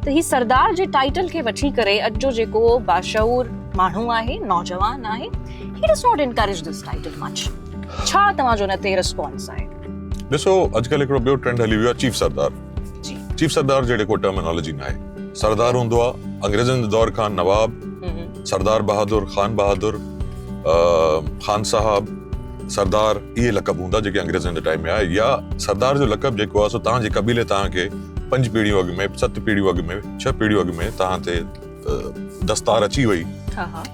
ته هي سردار جي ٽائيٽل کي وٺي ڪري اڄ جو جيڪو باشعور ماڻهو آهي نوجوان آهي هي does not encourage this title much ڇا توهان جو ان تي ريسپانس آهي ڏسو اڄ ڪلهه هڪڙو ٻيو ٽرينڊ هلي ويو آهي چيف سردار جي چيف سردار جهڙي ڪو ٽرمينالوجي نه آهي سردار هوندو آهي انگريزن جي دور کان نواب سردار بهادر خان بهادر خان صاحب سردار اهي لقب هوندا جيڪي انگريزن جي ٽائيم ۾ آيا يا سردار جو لقب جيڪو آهي سو توهان جي قبيلي توهان کي پنج پيڙهيون اڳ ۾ ست پيڙهيون اڳ ۾ ڇهه پيڙهيون اڳ ۾ توهان تي دستار اچي وئي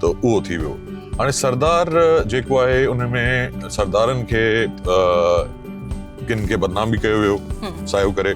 ته اهو ٿي ويو هاڻي سردار جيڪو آهي ان ۾ سردارن کي ڪن کي بدنام به ڪيو ويو سايو ڪري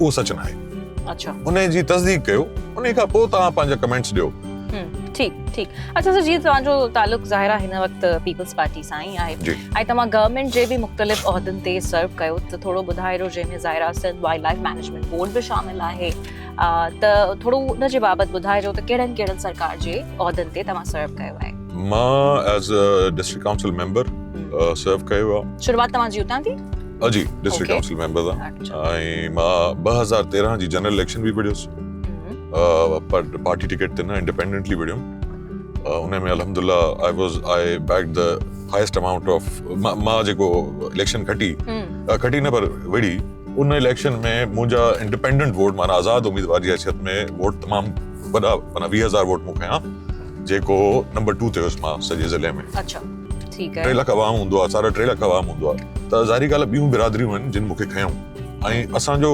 اهو سچ ناهي اچھا انهي جي تصديق ڪيو انهي کان پوء توهان پنهنجا ڪمينٽس ڏيو ٺيڪ ٺيڪ اچھا سر جي توهان جو تعلق ظاهر آهي هن وقت پيپلز پارٽي سان ئي آهي ۽ توهان گورنمينٽ جي به مختلف عهدن تي سرو ڪيو ته ٿورو ٻڌائي رهو جنهن ۾ ظاهر آهي Sindh wildlife management board به شامل آهي ته ٿورو ان جي بابت ٻڌائي رهو ته ڪهڙن ڪهڙن سرڪار جي عهدن تي توهان سرو ڪيو آهي مان as a district council member serve ڪيو آهي شروعات توهان جي اتان ٿي جي ڊسٽرڪٽ ڪائونسل ميمبر آ ۽ مان ٻه هزار تيرهن جي جنرل اليڪشن به وڙهيس پر پارٽي ٽڪيٽ تي نه انڊيپينڊنٽلي وڙهيم ان ۾ الحمد لله I was I back the highest amount of مان جيڪو اليڪشن کٽي کٽي نه پر وڙهي ان اليڪشن ۾ منهنجا انڊيپينڈنٹ ووٽ مانا آزاد اميدوار جي حيثيت ۾ ووٽ تمام وڏا مانا ويهه هزار ووٽ مون کي جيڪو نمبر ٽو تي هيس مان سڄي ضلعي ۾ ٽي لک عوام هوندو آهي ساڍا ٽي لک عوام هوندو آهي ته ظاهري ڳالهه آهي ٻيون برادريون آهن جن مون کي کنيو ۽ اسان جو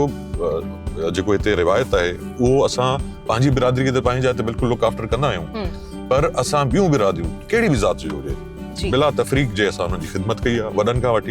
جيڪو هتي روايت آهي اهو اسان پنهنجي برادري کي ته پنهنجي جاء تي بلڪل لوڪ آفٽر ڪندا آهيون پر اسان ٻيون برادريون ڪهڙي به ذات جي هجي بلا تفريق جي اسان انهن جي خدمت ڪئي آهي وڏن کان وٺي